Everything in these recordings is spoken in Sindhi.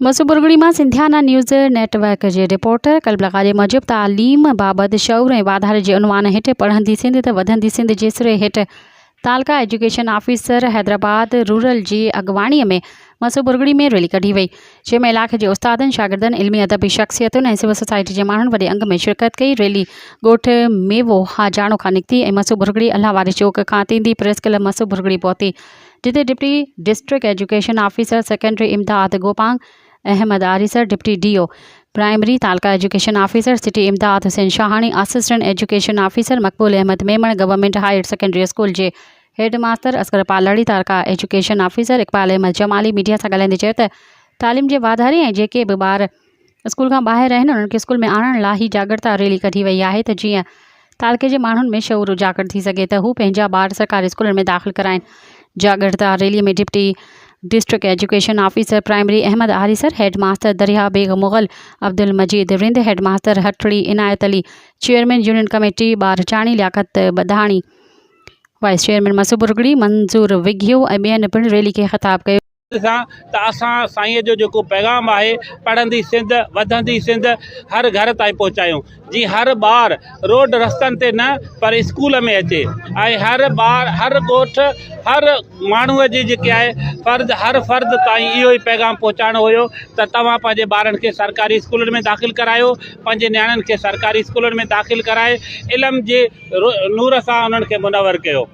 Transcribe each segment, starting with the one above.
مصوب برگڙي مان سنڌيانا نيوز نيٽ ورڪ جي رپورٽر قلب لغاري موجب تعليم بابت شعور ۽ واڌاري جي عنوان هيٺ پڙهندي سنڌ ته وڌندي سنڌ جي سري هيٺ taluka education officer Hyderabad rural جي اڳواڻي ۾ مصوب برگڙي ۾ ريلي ڪڍي وئي جنهن ۾ علائقي جي استادن شاگردن علمي ادبي شخصيتن ۽ سول سوسائٽي جي ماڻهن وڏي انگ ۾ شرڪت ڪئي ريلي ڳوٺ ميوو هاجاڻو کان نڪتي ۽ مصوب برگڙي الله واري چوڪ کان تيندي پريس ڪلب مصوب برگڙي پهتي جتي deputy district education officer secondary Imdad Gopang Ahmed Arisar, deputy D O primary, taluka education officer city Imdad Hussain Shahani, assistant education officer Maqbool Ahmed Memon, government higher secondary school جي headmaster Asghar Palri, taluka education officer Iqbal Ahmed Jamali media سان ڳالهائيندي چيو ته تعليم جي واڌاري ۽ جيڪي به ٻار اسڪول کان ٻاهر آهن انهن کي اسڪول ۾ آڻڻ لا هي جاڳرتا ريلي ڪڍي وئي آهي ته جيئن تعلقي جي ماڻهن ۾ شعور اجاگر ٿي سگهي ته هو پنهنجا ٻار سرڪاري اسڪولن ۾ داخل ڪرائين جاڳرتا rally ۾ deputy district education officer primary Ahmed Arisar head master Darya Beg Mughal Abdul Majeed Rind head master Hatri Inayat Ali chairman union committee Bharchani Liaquat Budhani vice chairman مسوبرگڙي منظور وگهيو ۽ ٻين پڻ ريلي کي خطاب ڪيو سان ته اسان سائينء جو جيڪو پيغام آهي پڙهندي سنڌ وڌندي سنڌ هر گهر تائين پهچايون جيئن هر ٻار روڊ رستن تي نه پر اسڪول ۾ اچي ۽ هر ٻار هر ڳوٺ هر ماڻهو جي جيڪي آهي فرد هر فرد تائين اهو ئي پيغام پهچائڻو هيو ته توهان پنهنجي ٻارن کي سرڪاري اسڪولن ۾ داخل ڪرايو پنهنجي نياڻين کي سرڪاري اسڪولن ۾ داخل ڪرائي علم جي نور سان انهن کي منور ڪيو.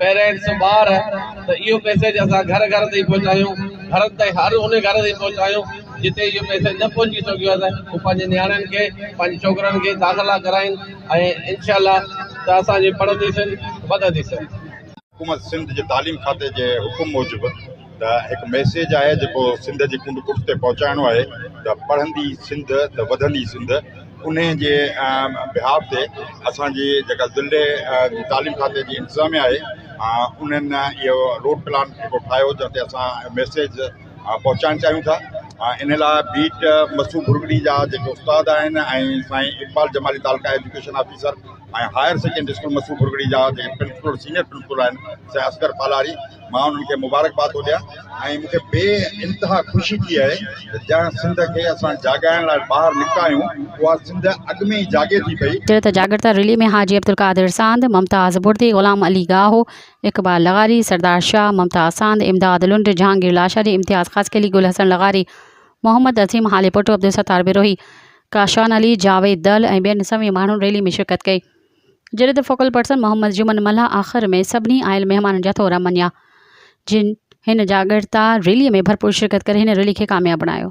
پيرنٽس ٻار ته اهو ميسيج اسان گهر گهر تائين پهچايون گهرن تائين هر ان گهر تائين پهچايون جتي اهو ميسيج نه پهچي سگهيو ته هو پنهنجي نياڻين کي پنهنجي ڇوڪرن کي داخلا ڪرائين ۽ انشاء الله ته اسان جي پڙهندي سنڌ وڌندي سنڌ. حڪومت سنڌ جي تعليم کاتي جي حڪم موجب ته هڪ ميسيج آهي جيڪو سنڌ جي ڪنڊ ڪڙڇ تي پهچائڻو آهي ته پڙهندي سنڌ ته وڌندي سنڌ. انهيء جي بيهاف تي اسان جي جيڪا ضلعي تعليم کاتي جي انتظاميه آهي انهن اهو روڊ پلان جيڪو ٺاهيو جنهن تي اسان ميسيج پهچائڻ چاهيون ٿا ان لاء بيٽ مسعود ڀرڳڙي جا جيڪي استاد آهن ۽ سائين Iqbal Jamali taluka education officer ۽ higher secondary school Masood Bhirgari جا جي پرنسپل سينئر پرنسپل آهن سي اصغر پالاري مان انهن کي مبارڪباد ٿو ڏيان ۽ مون کي بي انتها خوشي ٿي آهي ته جنهن سنڌ کي اسان جاڳائڻ لاء ٻاهر نڪتا آهيون اها سنڌ اڳ ۾ ئي جاڳي ٿي پئي. چيو ته جاڳرتا ريلي ۾ حاجي عبدالقادر ساند، ممتاز بڙدي، غلام علي گاهو، اقبال لغاري، سردار شاهه، ممتاز ساند، امداد لنڊ، جهانگير لاشاري، امتياز خاصخيلي، گل حسن لغاري، محمد عظيم هاليپوٽو، عبدالستار بروهي، ڪاشان علي، جاويد دل ۽ ٻين سوين ماڻهن ريلي ۾ شرڪت ڪئي، جڏهن ته فوڪل پرسن محمد جمن ملاح آخر ۾ سڀني آيل مهمانن جا ٿورا مڃيا، جن هن جاڳرتا ريلي ۾ ڀرپور شرڪت ڪري هن ريلي کي ڪامياب بڻايو.